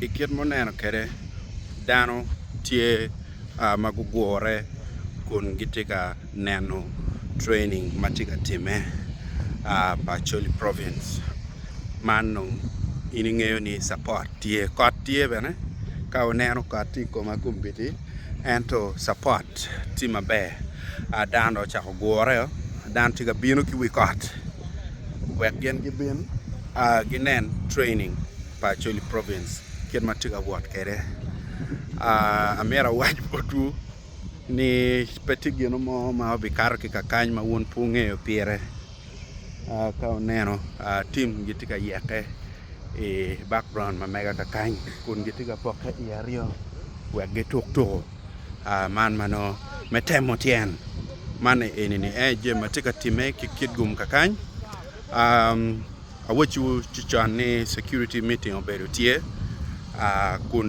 I kit ma wuneno kwede dano tye ma gugure kun gitye ka neno training ma tye ka timme pa Acholi province man dong in ingeyo ni capat tye kot tye bene ka wuneno kot tye i koma kombeddi. Ento Supot tye maber. A Dano dong ocako gure o, dano tye ka bino ki wi kot wek gin gibin a ginen training pa Acholi Province kit ma tye ka wot kwede. A Amyero awac botwu ni pe tye gin mo ma obikato ki kakany ma wun pe wungeyo pire. Ka oneno tim gitye ka yeke i bakuraun ma mega kakany kun gitye ka pokke i aryo wek gituk tuku man ma nongo me temo tyen man eni aye jami ma tye ka timme ki kit gumo kakany. Awacciwu ci con ni cukuriti miting obedo tye kun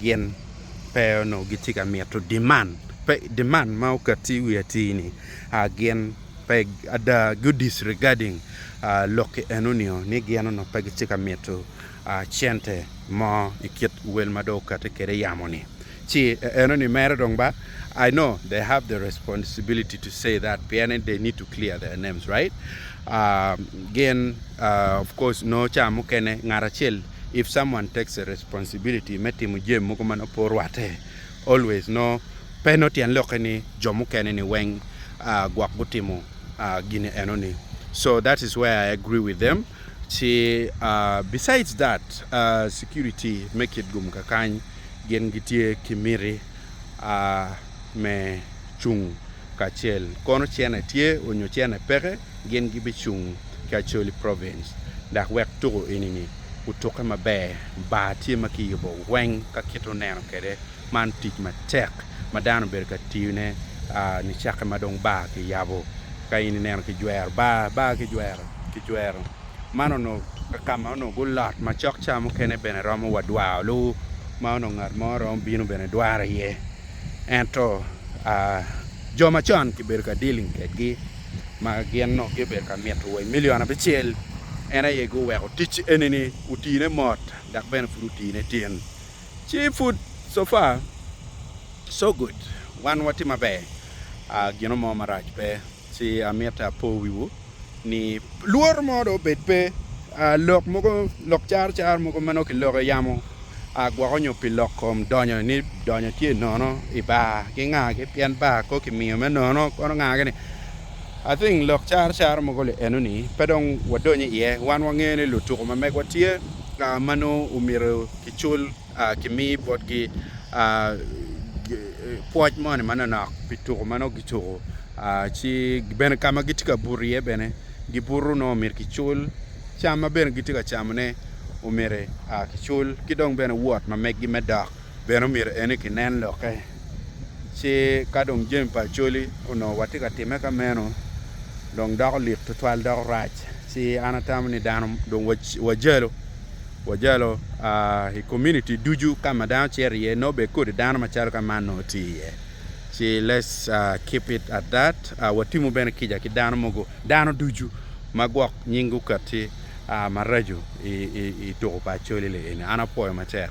gin pe onongo gitye ka mito demand pe demand ma okatti i wi atir ni gin pe ada gu disregarding lokki eno nio ni gin onongo pe gitye ka mito cente mo i kit wel ma dong okati kwede yamo ni ci eno ni mere dong ba I know they have the responsibility to say that pien ni they need to clear their names right gin of course nongo ca mukene ngat acel If someone takes a responsibility me timo jami mogo ma nongo pe orwatte, always nongo pe nongo tyen lokke ni jo mukene ni weng gwok gutimo gin eno ni. So that is where I agree with them. Ci besides that security me kit gum kakany gin gitye ki miti me cung kacel kono cene tye onyo cene peke. Gin gibicung ki Acholi Province dok wek tuko enini otukke maber. Bar tye ma kiyubo weng ka kit oneno kwede. Man tic matek ma dano obedo ka tiyone nicakke ma dong bar kiyabo. Ka in ineno kijwero bar, bar kijwero, kijwero man onongo ka ma onongo gulot macok ca mukene bene romo wa dwaro ma onongo ngat mo romo bino bene dwaro iye. Ento jo macon kibedo ka dealing kwedgi ma gin onongo gibedo ka mito wa i milion abicel, en aye guweko tic eni-ni otine mot dok bene pud otine tin. Ci pud so far, so good, wan watye maber, gino mo marac pe. Ci amito apo wiwu ni lworo mo dong obed pe, lok mogo, lok car car mogo ma nongo kiloko i yamo. A gwoko nyo pi lok kom donyo ni donyo tye nono i bar ki nga ki pien bar ko ki miyo me nono kono nga ki ni I think lok caro caro mogo li eno ni pe dong wa donyo i ye wan wa ngeyo ni lutuku ma megwa tye a ma nongo omyero ki cul a ki mi bot gi a pwoc moni ma nonok pi tuku ma nongo gi tuku a ci bene ka ma gitye ka buto iye bene gi buto nongo myero ki cul cam ma bene gitye ka camone omyero a ki cul, ki dong bene wot ma meggi me dok bene omyero ene kinen lokke. Ci ka dong jami pa Acholi onongo watye ka timme ka meno, dong doko lik twatwal, doko rac. Ci an atamo ni dano dong wajalo, wajalo a i komuniti ducu ka ma dano cito iye, nongo bed kodi dano macalo ka man nongo tye iye. Ci let's keep it at that, watimo bene kica ki dano mogo Dano ducu ma gwok nying guket tye maraco i tuko pa Acholi-li eni, an apwoyo matek.